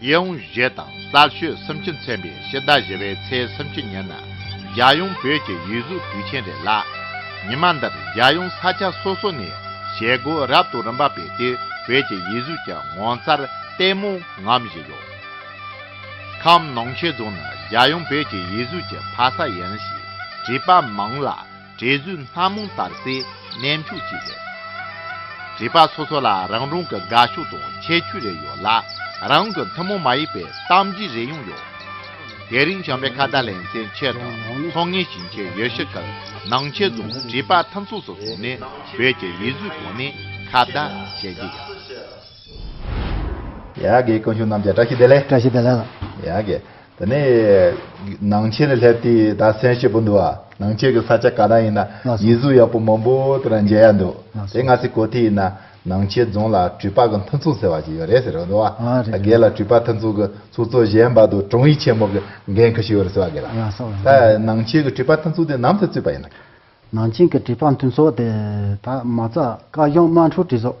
གཡས་དབུང་བཞེས་དང་གསར་ཤོས་བསམ་ཁྱི་མཚན་པའི་ཤི་བདག་བཞེས་པའི་ཚེ་བསམ་ཁྱི་ཉན་ན་རྒྱལ་ཡོངས་བོད་ཀྱི་ཡིད་གཟུགས་དུས་ཆེན་རེད་ལ། ཉི་མ་འདིར་རྒྱལ་ཡོངས་ས་ཆ་སོ་སོ་ནས་ཞལ་སྒོ་རབ་ཏུ་རིམ་པ་སྤེལ་ཏེ་བོད་ཀྱི་ཡིད་གཟུགས་ཀྱི་ངོ་མཚར་ལྟད་མོ་ངོམ་བཞིན་ཡོད། ཁམས་ནང་ཆེ་རྫོང་ནི་རྒྱལ་ཡོངས་བོད་ཀྱི་ཡིད་གཟུགས་ཀྱི་ཕ་ས་ཡིན་ཞེས་བྲིས་པ་མང་ལ། འབྲས་བུའི་སྣ་མང་དར་སའི་གནས་མཆོག་ཅིག་རེད། བྱིས་པ་སོ་སོ་ལ་རང་རང་གི་དགའ་ཕྱོགས་དང་ཁྱད་ཆོས་རེ་ཡོད་ལ། རང་གི་ཐུན་མོང་མ་ཡིན་པའི་གཏམ་རྒྱུད་རེ་ཡང་ཡོད། དེ་རིང་བྱམས་པའི་ཁ་བརྡ་ལེན་སའི་ཆེད་དུ་མཚོ་སྔོན་ཞིང་ཆེན་ཡུལ་ཤུལ་ཁུལ་ནང་ཆེན་རྫོང་བྱིས་པ་མཐུན་ཚོགས་སུ་སོང་ནས་བོད་ཀྱི་ཡིག་གཟུགས་གོང་ནས་ཁ་བརྡ་བྱེད་ཀྱི་ཡོད། ཡ་དགེ་བཀུར་མཆོག་རྣམ་རྒྱལ་བཀྲ་ཤིས་བདེ་ལེགས། བཀྲ་ཤིས་བདེ་ལེགས། ཡ་དགེ། དེ་ནས་ནང་ཆེན་ལ་སླེབས་དུས་ད་སེམས་ཞེད་པོ་འདུག་ཨ། ནང་ཆེན་གྱི་ས་ཆ་ག་ན་ཡིན་ན་ཡིད་གཟུགས་ཡག་པོ་མང་པོ་དེ་ར་མཇལ་ཡ་འདུག་དེ་ང་ཚོས་གོ་ཐོས་ཡིན་ན་ནང་ཆེན་རྫོང་ལ་གྲུ་པ་གི་མཐུན་ཚོགས་ཟེར་བ་ཞིག་ཡོད་རེད་ཟེར་རོ་འདུག་ཨ། ད་གལ་ལ་གྲུ་པ་མཐུན་ཚོགས་ཀྱི་ཚོགས་གཙོ་གཞན་པ་དུ་དྲུང་ཡིག་ཆེན་མོ་གི་འགན་ཁུར་ཞིག་ཡོད་རེད་ཟེར་བ་གལ་ད་ནང་ཆེན་གྱི་གྲུ་པ་མཐུན་ཚོགས་དེ་ནམ་ཐོད་བཙུགས་པ་ཡིན་ན། ནང་ཆེན་གྱི་གྲུ་པ་མཐུན་ཚོགས་དེ་ད་མ་རྩ་བཀའ་གཞུང་དམངས་ཁྲོད་གྲོས་ཚོགས་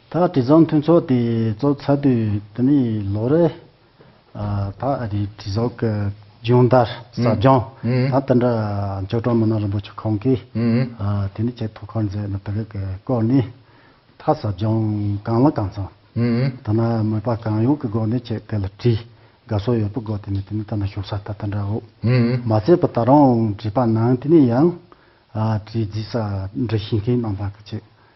ད་དྲི་བཟང་མཐུན་ཚོགས་དེ་གཙོ་ཚ་དུས་དེ་ནས་ལོ་རེད། ད་རི་དྲི་བཟང་གི་སྦྱོང་བརྡར་ཟབ་སྦྱོང་ད་དེ་འདྲ་ཅོག་གྲངས་མི་སྣ་རིན་པོ་ཆེ་ཁོང་གིས་དེ་ནས་ཆེད་ཐོ་ཁར་མཛད་ནས་དེ་རིགས་ཀྱི་སྐོར་ནས་ད་ཟབ་སྦྱོང་གང་ལ་གང་ཚང་ཐ་ན་མོས་པ་གང་ཡོང་གི་སྒོ་ནས་ཆེད་དེ་ལ་དྲི་དགའ་བསོ་ཡོད་པོ་དགོས་དེ་ནས་དེ་ནས་ད་ནང་ཞུགས་ས་ད་དེ་འདྲ་འོ་མ་བརྩད་པ་ད་རུང་བྲིས་པ་ནང་དེ་ནས་ཡང་དྲི་རྫིས་ས་འབྲི་ཤེས་མཁན་རྣམས་ལ་གི་ཆེད་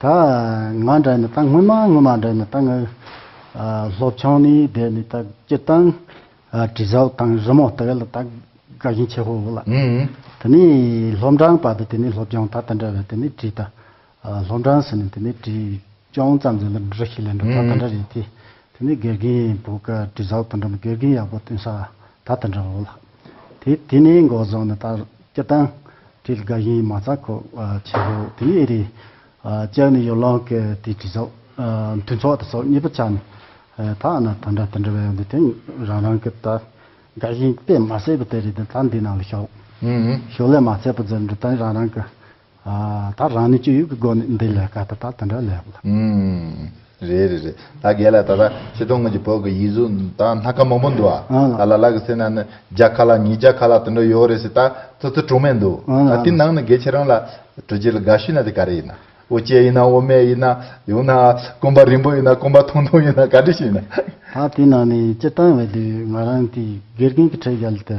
ད་ང་འདྲ་ནི་ད་སྔོན་མ་སྔོན་མ་འདྲ་ནི་ད་ང་སློབ་ཆང་ནི་བསྡད་ནི་ད་སྤྱིར་བཏང་དྲི་ཟ་དང་རི་མོ་དེ་ག་ལ་ད་དགའ་ཞིང་ཆེ་ཧོ་ཧོ་ལ། དེ་ནི་སློབ་འབྲང་བར་དུ་དེ་ནི་སློབ་སྦྱོང་ད་ད་འདྲ་བས་དེ་ནི་དྲི་ད། སློབ་འབྲང་ཟེར་ནི་དེ་ནི་དྲི་སྦྱོང་ཙམ་ཟེར་ལ་འདྲ་ཞིག་ལས་འགྲོ་ད་ད་འདྲ་རེད་དེ། དེ་ནི་དགེ་རྒན་བུ་ག་དྲི་ཟ་དང་འདྲ་མོ་དགེ་རྒན་ཡག་པོ་སྟོན་ས་ད་ད་འདྲ་བོ་ལ། དེ་དེ་ནས་འགོ་བཟང་ནི་ལྟར་སྐྱི་བཏང། དྲིལ་དགའ་ཞིང་མ་རྩ་ཁོ་ཆེ་བོ་དེ་ཨེ་རེད། ལྕགས་ནི་ཡོ་ལང་གི་དེ་དྲི་ཚོགས། མཐུན་ཚོགས་དྲི་ཚོགས་གཉིས་པོ་ཆ་ནི། ད་ཨ་ན་ད་འདྲ་དེ་འདྲ་བའི་འདི་དེ་རང་རང་གི་ལྟར་དགའ་ཞིང་དཔེ་མ་བསད་པོ་དེ་རེད་དེ་ད་འདི་ནང་ལ་ཞོག། ཞོག་ལས་མ་བསད་པོ་འཛེར་འདྲ་དེ་རང་རང་གི། ད་རང་ནས་སྤྱོད་ཡུལ་གྱི་སྒོ་ནས་འདི་ལས་ཀ་ད་ད་དེ་འདྲ་ལས་ལ། རེད་རེད་རེད་ད་རྒས་ལ་ད་ད་ཁྱེད་ཚོ་སྔོན་གྱི་བོད་གི་ཡིག་གཟུགས་ད་སྣ་ཁ་མང་པོ་འདུག་ཨ་ད་ལ་ལ་གི་སེ་ན་ནི་བརྒྱ་ཁ་ལ་ཉིས་བརྒྱ་ཁ་ལ་དེ་འདྲ་ཡོད་རེད་ཟེར་ད་ཚོ་ཚོ་གྲོགས་མེད་འདུག་ད་དེ་ནང་ནས་རྒས་ཁྱེད་རང་ལ་གྲོས་བྱེད་ལ་དགའ་ཤོས་ན་དེ་ག་རེ་ཡིན་ན་ཨོ་ཅེ་ཡིན་ན་ཨོ་སྨད་ཡིན་ན་ཡང་ན་ཀོང་པ་རིང་པོ་ཡིན་ན་ཀོང་པ་ཐུང་ཐུང་ཡིན་ན་ག་འདྲ་ཞིག་ཡིན་ན། ད་དེ་ནང་ནས་སྤྱི་བཏང་བས་དེ་ང་རང་དེ་དགེ་རྒན་གྱི་ཁྲལ་བཞག་ལ་དེ།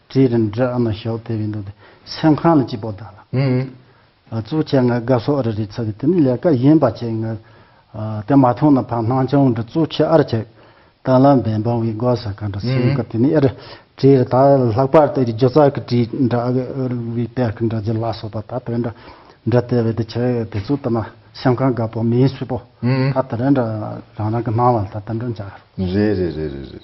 བཀྲིས་རིན་བཀྲིས་ཨ་མ་ཞོགས་དེ་བས་འདུག་དེ་སེམས་ཁང་ལ་སྐྱིད་པོ་བདག་ལ་གཙུག་ཁྱེད་ངའི་དགའ་ཕྱོགས་རེ་རེ་ཚ་གི་དེ་ནི་ལས་ཀ་ཡིན་པ་ཁྱེད་ངའི་དེ་མ་ཐོང་ན་ཕ་སྣང་ཆུང་འདྲ་གཙུག་ཁྱེད་ཨར་ཁྱེད་ལྟ་ལ་འབེན་འབང་བའི་དགོ་ས་ག་འདྲ་སེམས་ཀ་དེ་ནི་ཨར་བཀྲིས་རེ་ད་ལྷག་པར་དུ་རི་རྒྱུ་ཙག་གི་བཀྲིས་འདྲ་ཨ་གི་ཨར་བའི་པད་ཁ་འདྲ་རྒྱུ་ལ་སོགས་པ་ད་དེ་འདྲ་འདྲ་ལྟས་བས་དེ་ཁྱེད་དེ་ཚོ་ལྟ་ན་སེམས་ཁང་དགའ་པོ་མིན་སུས་པོ་ད་དེ་རེ་འདྲ་རང་རང་གི་སྣང་བ་ལ་ད་དེ་འདྲ་འཇགས་རོགས། རེད་རེད་རེད་རེད་རེད།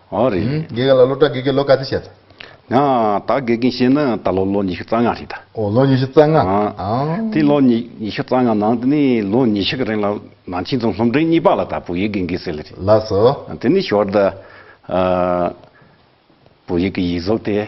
ཨོ་རེད། དགེ་རྒན་ལ་སློབ་གྲྭ་དགེ་རྒན་ལོ་ག་ཚོད་བྱས་ད། ང་ད་དགེ་རྒན་བྱས་ན་ད་ལོ་ལོ་ཉི་ཤུ་རྩ་ལྔ་རེད་ད། ཨོ་ལོ་ཉི་ཤུ་རྩ་ལྔ། དེ་ལོ་ཉི་ཤུ་རྩ་ལྔ་ནང་དེ་ནས་ལོ་ཉི་ཤུ་གི་རིང་ལ་ནང་ཆེན་རྫོང་སློབ་འབྲིང་གཉིས་པ་ལ་ད་བོད་ཡིག་དགེ་རྒན་ཟེར་ལེ་རེད། ལགས་སོ། དེ་ནས་ཞོར་དུ་བོད་ཡིག་གི་ཡིག་གཟུགས་དེ།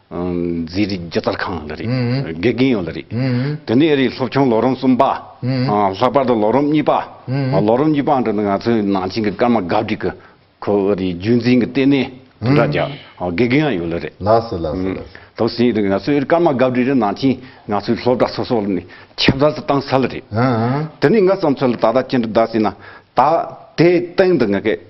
མཛེས་རིག་སྒྱུ་རྩལ་ཁང་ལ་རེད། དགེ་རྒན་ཡོད་ལ་རེད། དེ་ནས་རེད་སློབ་ཆུང་ལོ་རིམ་གསུམ་པ། ལྷག་པར་དུ་ལོ་རིམ་གཉིས་པ། ལོ་རིམ་གཉིས་པ་འགྲོ་ནས་ང་ཚོའི་ནང་ཆེན་གྱི་སྐར་མ་དགའ་བསྒྲིག་གི་ཁོ་བོ་རེད་རྒྱུན་འཛིན་གྱི་ལྟེ་གནས་དུ་འདྲ་རྒྱག་དགེ་རྒན་ཡང་ཡོད་ལ་རེད། ལགས་སོ་ལགས་སོ་ལགས་སོ། དེ་བཞིན་ང་ཚོའི་སྐར་མ་དགའ་བསྒྲིག་རེད་ནང་ཆེན་ང་ཚོའི་སློབ་གྲྭ་སོ་སོ་ལ་ནས་ཁྱབ་བརྡལ་དུ་བཏང་ས་ལ་རེད། དེ་ནས་ང་བསམ་ཚོད་ལ་ད་ལྟ་ཅི་འདྲ་གདའ་ཟེར་ན། ད་དེའི་སྟེང་དུ་ང་ཁེ།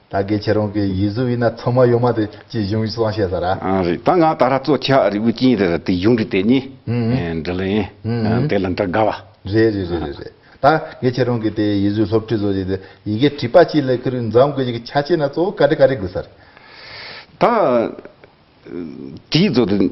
ད་གེ་ཁྱེད་རང་གི་ཡིད་གཟུགས་ཡིན་ན་ཚང་མ་ཡོད་མ་དེ་ཅི་གཞུང་གསང་བཤད་ཟ་ར། རེད་ད་ང་ད་ར་གཙོ་ཆ་རི་བོའི་སྤྱིན་རེར་དེ་གཞུང་གི་དེ་ཉིད་འབྲི་ལ་ཡིན་དེ་ལ་འདྲི་དགའ་བ། རེད་རེད་རེད་རེད་རེད་ད་གེ་ཁྱེད་རང་གི་དེ་ཡིད་གཟུགས་སློབ་ཁྲིད་བཟོ་རྒྱུ་དེ་ཡི་གེ་བྲིས་པ་ཅིག་ལས་ཁུར་འཛམ་དགོས་ཀྱི་ཆ་ཆེ་ན་གཙོ་བོ་ག་རེ་ག་རེ་དགོས་ས་རེད། ད་དེའི་བཟོ་དེ།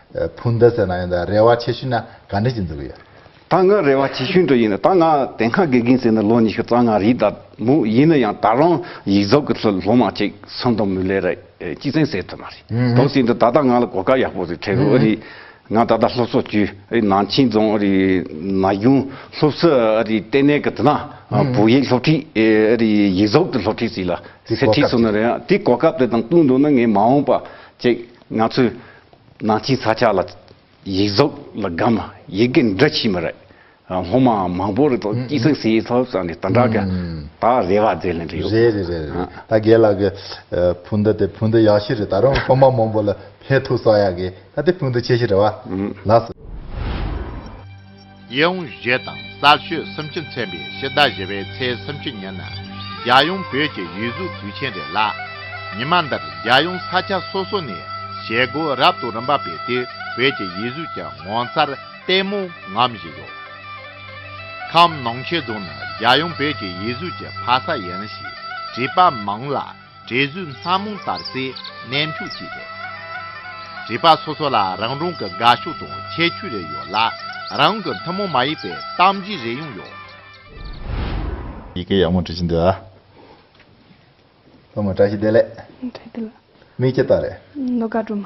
ཕུ་འདི་ཟེར་ན་ཡང་དང་རེ་བ་ཆེ་ཤོས་ན་ག་འདྲ་ཅིག་འདུག་ཡ། ད་ང་རེ་བ་ཆེ་ཤོས་འདྲ་ཡིན་ན་ད་ང་དེ་སྔ་དགེ་རྒན་ཟེར་ན་ལོ་ཉི་ཤུ་རྩ་ལྔ་རེད་ད་མོ་ཡིན་ན་ཡང་ད་རང་ཡིག་རྫོགས་གི་ལྷོད་ལྷོད་མ་ཅིག་སང་དང་མུ་ལེ་ར་གཅིག་བཙན་ཟེར་ཐུབ་མ་རེད་དོག་ཟེར་འདུག་ད་ལྟ་ང་ལ་གོ་སྐབས་ཡག་པོ་རེད་ཁྲེ་རུ་ཨ་རིག་ང་ད་ལྟ་སློབ་གསོ་བཅུའི་ཨ་རིག་ནང་ཆིང་རྫོང་ཨ་རིག་ན་གཞུང་སློབ་གསོ་ཨ་རིག་ལྟེ་གནས་གི་དེ་ན་བོད་ཡིག་སློབ་ཁྲིད་ཨེ་ཨ་རིག་ཡིག་རྫོགས་གི་སློབ་ཁྲིད་ཟིག་ལ་ཟེར་ཁྲིད་སོང་ན་རེད་ཡ་དེ་གོ་སྐབས་དེ་དང་བསྟུན་འདུག་ན་ངས་མ་འོངས་པ་ཅིག་ང་ཚོས་ནང་ཆེན་ས་ཆ་ལ་ཡིག་རྫོགས་ལ་སྒམ་ཡིག་གི་འདྲ་ཕྱི་མི་རེད། སློབ་མ་མང་པོ་རེད་དོ་སྐྱིད་སེང་སེ་ཡིས་ཐོབ་ས་ནས་དོན་དྲག་གི་ད་རེ་བ་མཛད་ལན་འདྲི་ཡོད། རེད་རེད་རེད་རེད་ད་རྒན་ལགས་ཀྱི་ཕུ་འདུ་དེ་ཕུ་འདུ་ཡག་ཤོས་རེད་ད་རུང་སློབ་མ་མང་པོ་ལ་ཕན་ཐོགས་ས་ཡག་གི་ད་དེ་ཕུ་འདུ་ཆེ་ཤོས་རེད་བ། ལགས། གཡས་འོང་བཞེས་དང་གསར་ཤོས་བསམ་ཕྱི་མཚན་པའི་ཕྱི་ཟླ་བཞི་བའི་ཚེས་བསམ་ཕྱི་ཉིན་ན་རྒྱལ་ཡོངས་བོད་ཀྱི་ཡིད་གཟུགས་དུས་ཆེན་རེད་ལ། ཉི་མ་འདིར་རྒྱལ་ཡོངས་ས་ཆ་སོ་སོ་ནས་བྱེད་སྒོ་རབ་དང་རིམ་པ་སྤེལ་ཏེ་བོད་ཀྱི་ཡིད་གཟུགས་ཀྱི་ངོ་མཚར་ལྟད་མོ་ངོམ་བཞིན་ཡོད། ཁམས་ནང་ཆེ་རྫོང་ནི་རྒྱལ་ཡོངས་བོད་ཀྱི་ཡིད་གཟུགས་ཀྱི་ཕ་ས་ཡིན་ཞེས་བྲིས་པ་མང་ལ། འབྲས་བུ་སྣ་མང་དར་སའི་གནས་མཆོག་ཅིག་རེད། བྱིས་པ་སོ་སོ་ལ་རང་རང་གི་དགའ་ཕྱོགས་དང་ཁྱད་ཆོས་རེ་ཡོད་ལ། རང་གི་ཐུན་མོང་མ་ཡིན་པའི་གཏམ་བརྗོད་རེ་ཡང་ཡོད། ཡི་གེ་ཡག་མོ་འབྲི་བཞིན་འདུག་ཨ། སློབ་མ་བཀྲ་ཤིས་བདེ་ལེགས། བཀྲ་ཤིས་བདེ་ལེགས། མིག་ཅེ་ལྟ་རེད། ནོར་དགའ་སྒྲོལ་མ།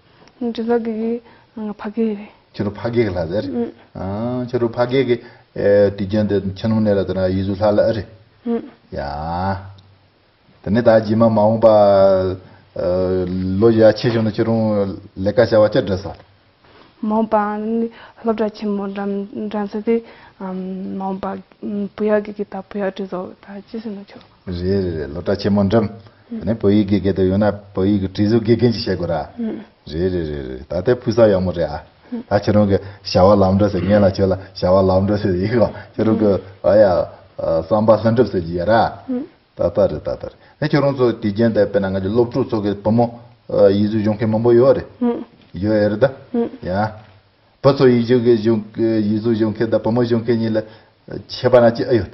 འདྲི་ལགས་ཀྱི་གིས་ང་ཕ་གེགས་རེད། ཁྱེད་རུ་ཕ་གེགས་ལ་ཟེར། ཁྱེད་རུ་ཕ་གེགས་ཀྱི་དུས་རྒྱུན་དུ་ཁྱི་སྣུམ་ནད་ལ་ལྟོས་ན་ཡིད་གཟུགས་ལྷ་ལ་ཨེ་རེད། ཡང། དེ་ནས་ད་རྗེས་མ་མ་འོངས་པ་ལོ་ཡ་ཆེ་བྱུང་ན་ཁྱེད་རུང་ལས་ཀ་བྱ་བ་ཅི་འདྲི་ཟེར། མ་འོངས་པ་སློབ་གྲྭ་ཆེན་མོ་འགྲམ་འགྲམ་ཟེར་དེ། མ་འོངས་པ་བུ་ཡག་གི་གིས་ད་བུ་ཡག་འདྲི་ཟོ་ད་ཅི་ཟེར་ན་ཁྱོད། རེད་རེད་རེད་ལོ་བཀྲ་ཆེན་མོ་འགྲིམ། དེ་ནས་བོད་ཡིག་དགེ་རྒན་དུ་ཡོང་ན་བོད་ཡིག་གི་བྲིས་གཟུགས་དགེ་རྒན་གྱིས་བྱེད་དགོས་ར། རེད་རེད་རེད་རེད་ད་ལྟའི་ཕུགས་བསམ་ཡག་མོ་རེད་ཨ། ད་ཁྱེད་རང་གི་བྱ་བ་ལམ་འགྲོ་ཟེར་ངེད་ལ་ཁྱོད་ལ་བྱ་བ་ལམ་འགྲོ་ཟེར་ཡིག་ལ་ཁྱེད་རང་གི་ཨ་ཡ། བསམ་པ་ལྷུན་གྲུབ་ཟེར་གྱི་ཡོད་ར། ད་ལྟ་རེད་ད་ལྟ་རེད་ད་ཁྱེད་རང་ཚོ་དུས་རྒྱན་དེ་དཔེར་ན་ང་ཚོ་སློབ་ཕྲུག་ཚོ་གི་བུ་མོ། ཡིག་གཟུགས་སྦྱོང་མཁན་མང་པོ་ཡོད་རེད། ཡོད་ཡོད་རེད་ད། ཡ། བུ་ཚོ་ཡིག་གཟུགས་སྦྱོང་མཁན་དང་བུ་མོ་སྦྱོང་མཁན་གཉིས་ལ་ཁྱད་པར་ན་ཅི་ཨེ་ཡོད།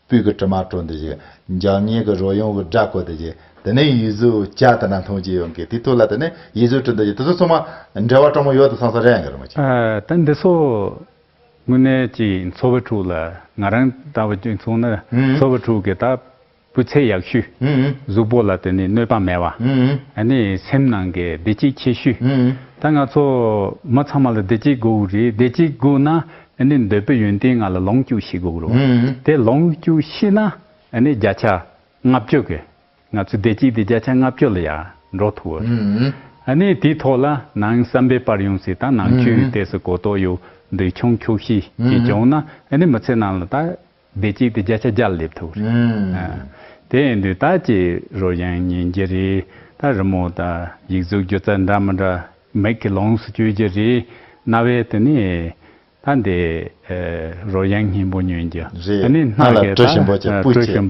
སྤུས་ཀྱི་དྲི་མ་བཀྲོལ་འདི་བཞིན། འཇག་སྙེག་གི་རོ་ཡོངས་བསྒྲགས་བཀོད་འདི་བཞིན། དེ་ནས་ཡུལ་གཟུགས་བྱ་དེ་འདྲ་མཐོང་ཅི་ཡོང་གི་དེ་ཐུགས་ལ་དེ་ནས་ཡུལ་གཟུགས་བྲི་འདི་བཞིན་དེ་ཚོ་ཚང་མ། འབྲེལ་བ་དྲང་མོ་ཡོད་དུ་སོང་ས་རེད་ཨང་ཀི། ད་འདི་ཚོ་དངོས་གནས་ཀྱི་འཚོ་བ་དྲུག་ལ་ང་རང་ལྟ་བུ་གཅིག་མཚུངས་ན་འཚོ་བ་དྲུག་གི་ད་སྤུས་ཚད་ཡག་ཤོས། གཟུགས་པོ་ལ་དེ་ནས་གནོད་པ་མེད་བ། ད་ནས་སེམས་ནང་གི་བདེ་སྐྱིད་ཆེ་ཤོས། ད་ང་ཚོ་མི་ཚང་མ་ལ་བདེ་སྐྱིད་དགོས་རེད་བདེ་སྐྱིད་དགོས་ན་ཨ་ནི་འདོད་པའི་ཡོན་ཏན་ལྔ་ལ་ལོངས་སྐྱུགས་ཤིག་དགོས་རོ། དེ་ལོངས་སྐྱུགས་ཤིག་ན་ཨ་ནི་བརྒྱ་ཆ་ལྔ་བཅུ་གི་ང་ཚོའི་བདེ་སྐྱིད་དེ་བརྒྱ་ཆ་ལྔ་བཅུ་ལ་ཡར་འགྲོ་ཐུབ་བོ། ཨ་ནི་དེའི་ཐོག་ལ་ནང་བསམ་པའི་པར་ཡོང་སྲིད་དང་ནང་ཆོས་ཡོད་དེ་སུ་གོ་རྟོགས་ཡོད་འདུག་ཆུང་འཁྱོགས་ཤིག་གིས་བྱུང་ན་ཨ་ནི་མི་ཚེ་ནང་ལ་ད་བདེ་སྐྱིད་དེ་བརྒྱ་ཆ་བརྒྱར་སླེབས་ཐུབ། དེ་ཡིན་དུས་ད་ཅི་རོ་གཞན་ཉན་རྒྱུ་རེད་ད་རི་མོ་དང་ཡིག་གཟུགས་སྒྱུ་རྩལ་འདྲ་མི་འདྲ་མིག་གི་ལོངས་སུ་སྤྱོད་རྒྱུ་རེད་རྣ་བའི་དུ་ནས་ད་འདི་རོ་གཞན་སྙན་པོ་ཉོན་རྒྱུ་རེད་རྣ་ལ་དྲོད་ཞིམ་པོ་ཅིག་སྤུ་བཅད།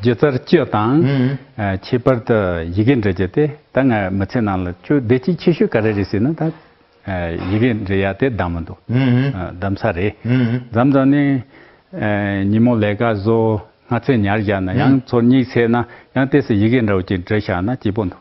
སྒྱུ་རྩལ་སྤྱོད་དང། ཁྱད་པར་དུ་ཡི་གེ་འབྲི་རྒྱུ་དེ་ད་ང་མི་ཚེ་ནང་ལ་ཅུང་བདེ་སྐྱིད་ཆེ་ཤོས་ག་རེ་རེད་ཟེར་ན་ད་ཡི་གེ་འབྲི་ཡ་དེ་གདམས་མི་འདུག་གདམས་ས་རེད་གདམས་ས་ནི། ཉིན་མོ་ལས་ཀ་བཟོ་སྔ་ཚེ་ཉར་བཞག་ན་ཡང་ཚོར་སྙིགས་ཚེས་ན་ཡང་དེ་སྲིད་ཡི་གེ་འདྲ་བོ་ཅིག་འབྲི་བཞག་ན་སྐྱིད་པོ་འདུག།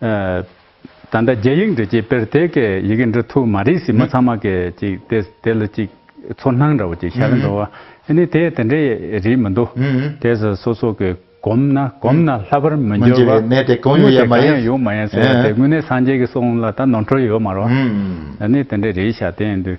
ད་ལྟ་རྒྱ་ཡིག་འབྲི་བྱེད་པེར་ཐེ་ཀའི་ཡི་གེ་འབྲི་ཐུབ་མ་རེད་སྲིད་མོ་ཚང་མ་གས་ཅིག་དེ་དེ་ལ་ཅིག་ཚོར་སྣང་འདྲ་བོ་ཅིག་ཤར་འགྲོ་བ་ཨེ་ནི་དེ་དེ་འདྲའི་རིགས་མི་འདུག་དེ་ཟ་སོ་སོ་གས་གོམས་ན་གོམས་ན་ལྷ་པར་མི་འགྱུར་བ་དངུལ་དེ་གང་ཡང་ཡོད་མ་ཡིན་ཟེར་བ་དེ་དངུལ་ནི་སངས་རྒྱས་ཀྱི་གསུང་ལ་ད་ནོར་འཁྲུལ་ཡོད་མ་རོ་ཨེ་ནི་དེ་འདྲའི་རིགས་ཤ་སྟེང་དུ།